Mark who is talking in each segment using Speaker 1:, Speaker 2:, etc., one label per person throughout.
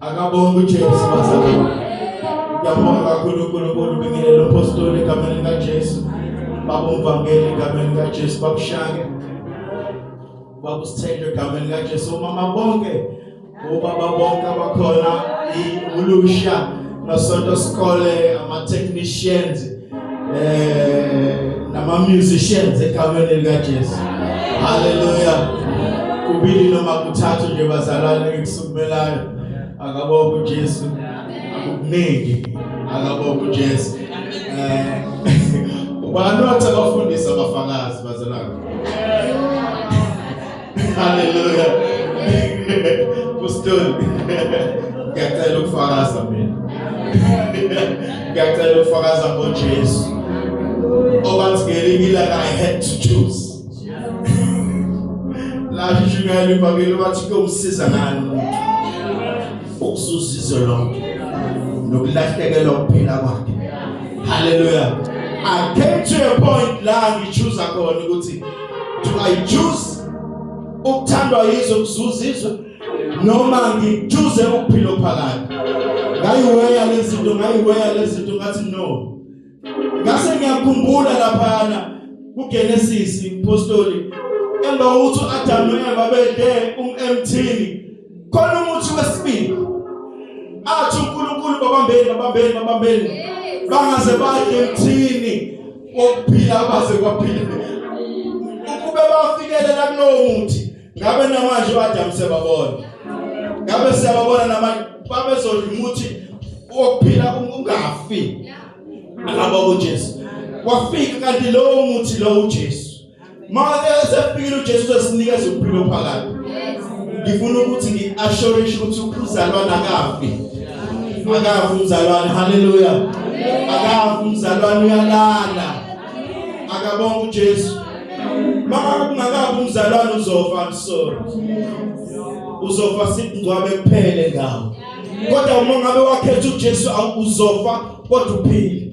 Speaker 1: Akabonga uJesu bazalwane. Ngiyabonga kakhulu uNkulunkulu ubingelele uphostoli egameni likaJesu. Baba umvangeli egameni likaJesu bakushange. Baba usithende egameni likaJesu mama bonke. Ubaba bonke abakhona ulusha nasonto sikole ama technicians eh nama musicians egameni lika Jesu haleluya kubili noma kuthathu nje bazalwane ngikusukumelayo akabonga uJesu akukuningi akabonga uJesu eh ubani wathi abafundisi abafakazi bazalwane Hallelujah. Kuston. Ngiyacela ukufakaza mina. Ngiyacela ukufakaza ngoJesu. Obathi ngelinye ilanga I had to choose. Lapho ishukela ibhakile wathi kuyomsiza ngani umuntu. Ukuzuza izwe lonke. Nokulahlekelwa ukuphila kwakhe. Hallelujah. I came to a point la ngichuza khona ukuthi do I choose ukuthandwa yizwe ngizuzizwe noma ngithuze ukuphila phakade ngayiweya lezinto ngayiweya lezinto ngathi no ngase ngiyakhumbula laphana kuGenesis impostoli emva kokuthi uAdam noEva bede umemthini khona umuthi wesibili athi uNkulunkulu babambeni babambeni babambeni bangaze badle mthini wokuphila baze kwaphila ukube bafikelela kulowo muthi ngabe namanje uAdam sebabona ngabe siyababona namanje babezodla umuthi wokuphila ungafi alabo uJesu wafika kanti lowo muthi lowo uJesu Manje sefikile uJesu uzosinikeza ukuphila phakade. Ngifuna ukuthi ngiassurishe ukuthi ukuzalwana akafi. Akafi umzalwane. Haleluya. Akafi umzalwane uyalala. Akabonga uJesu. Mama kungakabi umzalwane uzofa I'm sorry. Uzofa sikungcwabe kuphele ngawo. Kodwa uma ngabe wakhetha uJesu awuzofa kodwa uphile.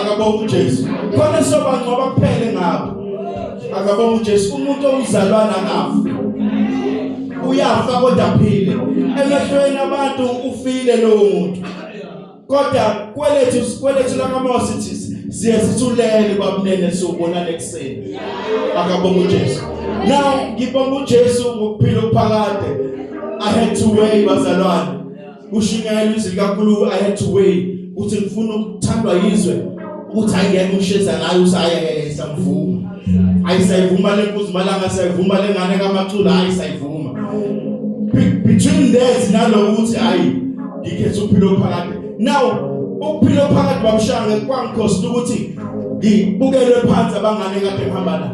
Speaker 1: akabonga uJesu khona sobangcwaba kuphele ngabo akabonga uJesu umuntu owuzalwana ngafu uyafa kodwa aphile emehlweni abantu ufile lowo muntu kodwa kwelethu kwelethu lakamosi thisi siye sithulele babunene sobona lekuseni akabonga uJesu now ngibonga uJesu ngokuphila ukuphakade i had to wait bazalwane kushunyayela izwi likaNkulunkulu I had to weigh ukuthi ngifuna ukuthandwa yizwe ukuthi ayiyeke usheza ngayo usayeke isangivuma ayisayivuma lenkuzi malanga sayivuma lengane kamacula hayi sayivuma between that naloko ukuthi hayi ngikhethe ukuphila phakade now ukuphila phakade babushange kwangikhosta ukuthi ngibukelwe phansi abangane kade ngihamba la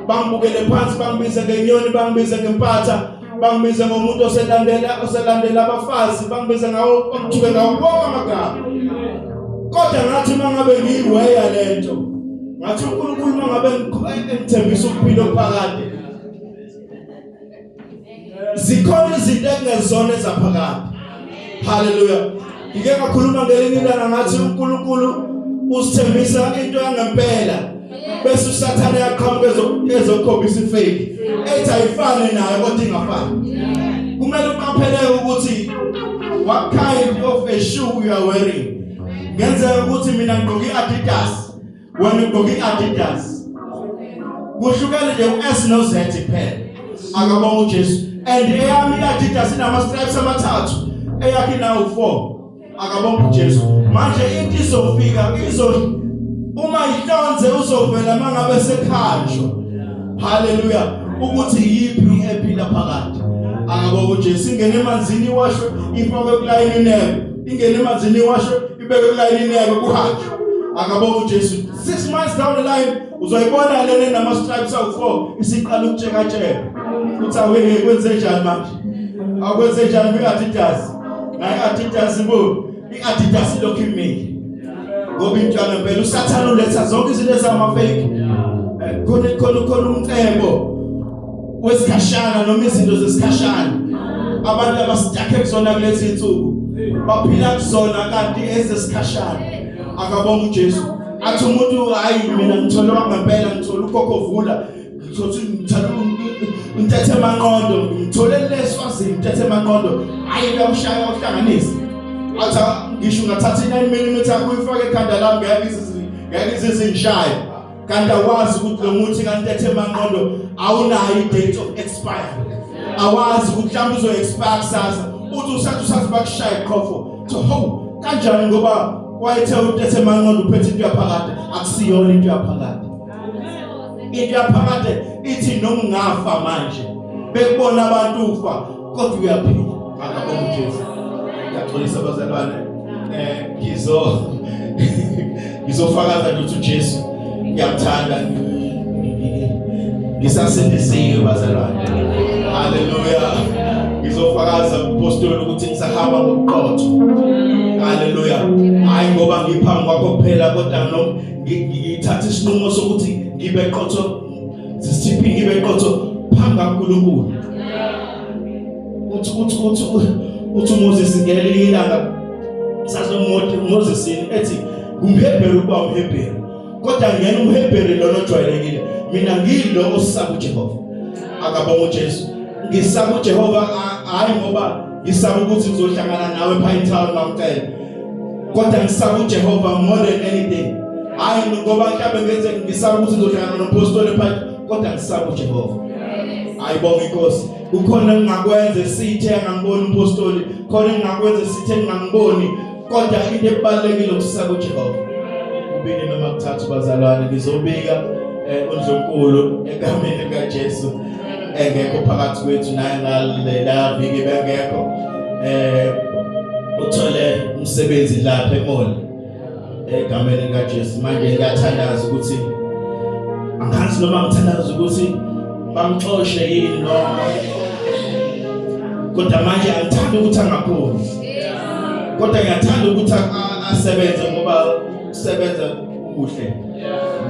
Speaker 1: bangibukele phansi bangibize ngenyoni bangibize ngempatha bangibize ngomuntu oselandela oselandela abafazi bangibize ngawo okuthiwe ngawo bonke amagama kodwa ngathi mangabe ngiyiweya lento ngathi uNkulunkulu mangabe ngithembisa ukuphila okuphakade zikhona izinto ekungezona ezaphakade Hallelujah. Ngike ngakhuluma ngelinye ilanga ngathi uNkulunkulu usithembisa into yangempela bese usathane yaqhamuka ezokhombisa ifake ethi ayifane nayo kodwa ingafani kumele uqaphele ukuthi what kind of a shoe you are wearing ngenzeka ukuthi mina ngigqoke i-Adidas wena ugqoka i-adidas kuhlukane nje u-s no-z kuphela akabonga ujesu and eyami i-adidas inama-stripes amathathu eyakhe nawo four akabonga ujesu manje into izofika izo uma ihlonze uzovela uma ngabe sekhanjwa haleluya ukuthi yiphi ephila phakathi akabonga ujesu ingene emanzini iwashwe ifakwe kulayini inebe ingene emanzini iwashwe ibeke kulayini yabo kuhanjwe akabona uJesu 6 months down the line uzoyibona lena nama stripes awu4 isiqala ukutsheka tsheka uthi aweke kwenze njani manje akwenze njani kwi-adidas naye adidas bo i-adidas ilokhu imile ngoba intwana mpela usathane uletha zonke izinto ezamafeki eh, khona khona khona umcebo kwesikhashana noma izinto zesikhashana abantu abasitake kuzona kulezi insuku baphila kuzona kanti ezesikhashana akabonga uJesu athi umuntu hayi mina ngithola ngempela ngithola ukhokho vula ngithothi ngithatha ntethe manqondo ngithole leswazini ntethe manqondo hayi lawushaya uhlanganisa athi ngisho ngathatha 9 mm kuyifaka ekhanda lami ngeke izizi ngeke izizi ngishaya kanti awazi ukuthi lo muthi kantethe manqondo awunayo i-date of expire awazi ukuthi mhlawumbe uzo-expire kusasa uthi usathi usathi bakushaye qhofo so ho kanjani ngoba wayethe utethe manqondo uphethe into yaphakade akusiyona into yaphakade into yaphakade ithi noma ungafa manje bekubona abantu ufa kodwa uyaphila akabonga uJesu ngiyaxolisa abazalwane eh ngizo ngizofakaza ukuthi uJesu ngiyamthanda ngisasindisiwe bazalwane haleluya ngizofakaza kupostoli ukuthi ngisahamba ngobuqotho haleluya hayi ngoba ngiphambi kwakho kuphela kodwa ngithatha isinqumo sokuthi ngibe qotho sisiphike ibe qotho phambi kaNkulunkulu uthi uthi uthi uthi uMoses ngelinye ilanga sazomothi uMoses ethi ngumHebheru kuba umHebheru kodwa ngena umHebheru lona ojwayelekile mina ngilo osisaba uJehova akabonga uJesu ngisaba uJehova hayi ngoba ngisaba ukuthi ngizohlangana nawe pha etown bamcela kodwa ngisaba uJehova more than anything hayi ngoba mhlawumbe ngenze ngisaba ukuthi ngizohlangana nompostoli pha kodwa ngisaba uJehova ayibonga inkosi kukhona engingakwenza esithe angangiboni umpostoli khona engingakwenza esithe ngingangiboni kodwa into ebalekile ukusaba uJehova ubini noma kuthathu bazalwane ngizobika eh, undlunkulu egameni lika Jesu engekho phakathi kwethu naye ngalela viki bengekho eh uthole umsebenzi lapha emoli egameni lika Jesu manje ngiyathandaza ukuthi angazi noma ngithandaza ukuthi bamxoshe yini noma kodwa manje angithandi ukuthi angaphumi kodwa ngiyathanda ukuthi asebenze ngoba usebenza kuhle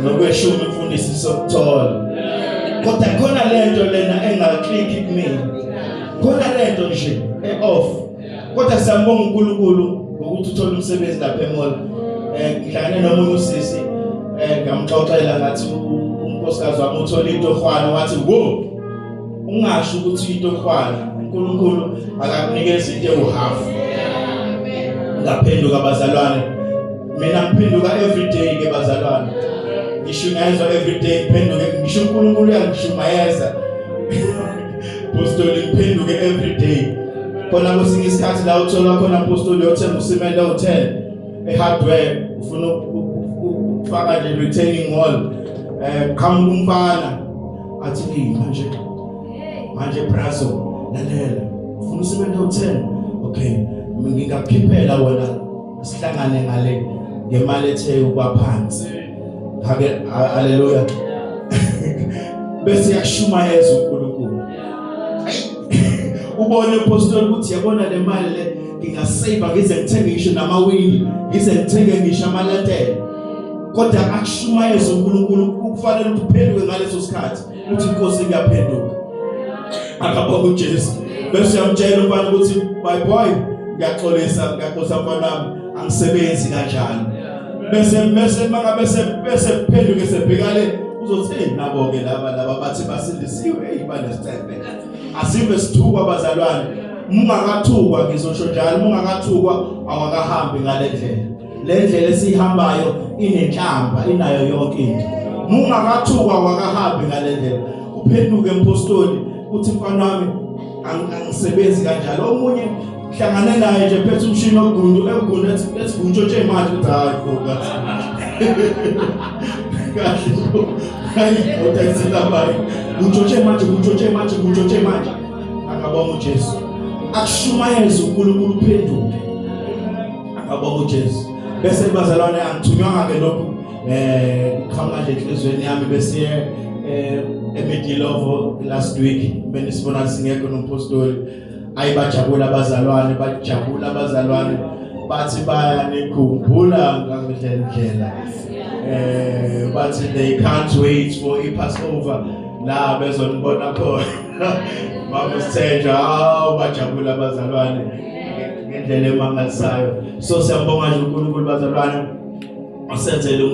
Speaker 1: nokweshuma imfundiso sokuthola kodwa khona lento lena engaklikhi kumina khona lento nje e-off kodwa siyambonga uNkulunkulu ngokuthi uthole umsebenzi lapha emall eh ngidlane nomunye usisi eh ngamxoxela ngathi unkosikazi wami uthole into hwana wathi wo ungasho ukuthi into ofana uNkulunkulu akakunikeza into ewuhalf ngaphenduka bazalwane mina ngiphenduka every day ke bazalwane ngishunyayezwa every day ngiphenduke ngisho uNkulunkulu uyangishumayeza apostoli ngiphenduke every day khona kwesinye isikhathi la uthola khona apostoli yothenga usimende hotel ehardware ufuna ukufaka nje retaining wall eh qhamuka umfana athi ni manje manje brazo lalela ufuna usebenze u10 okay ngingakukhiphela wena sihlangane ngale ngemali ethe ukwaphansi ngake haleluya bese yashumayeza uNkulunkulu ubone apostle ukuthi yabona le mali le ngingasave ngize ngithenge ngisho namawindi ngize ngithenge ngisho amaletele kodwa akushumayeza uNkulunkulu ukufanele uphenduke ngaleso sikhathi uthi inkosi ngiyaphenduka akabonga uJesu bese uyamtshela umfana ukuthi my boy ngiyaxolisa ngiyaxolisa mfana wami angisebenzi kanjani bese bese maka bese bese phenduke sebhekale uzothini nabo ke laba laba bathi basindisiwe hey banesithembe Asive sithukwa bazalwane. Mungakathukwa ngizosho njalo mungakathukwa awakahambi ngale ndlela. Le ndlela esihambayo inenhlamba inayo yonke into. Mungakathukwa wakahambi ngale ndlela. Uphenduke mpostoli uthi mfana wami angisebenzi kanjalo omunye Hlangane naye nje phethe umshini ogundu egundu ethi ethi kuntshotshe imali ukuthi hayi ngoba. Kahle. Hayi udayithi labayi. Kuntshotshe manje kuntshotshe manje kuntshotshe manje. Akabonga uJesu. Akushumayeze uNkulunkulu uphenduke. Akabonga uJesu. Bese bazalwane angithunywa ke lokho eh khama nje enhlizweni yami bese eh eMedilovo last week benisibona singekho nompostoli ayi bajabula abazalwane bajabula abazalwane bathi bayanikhumbula ngale ndlela eh bathi they can't wait for i Passover la bezonibona khona mama sithenjwa awu bajabula abazalwane ngendlela emangalisayo so siyabonga nje uNkulunkulu bazalwane osenzele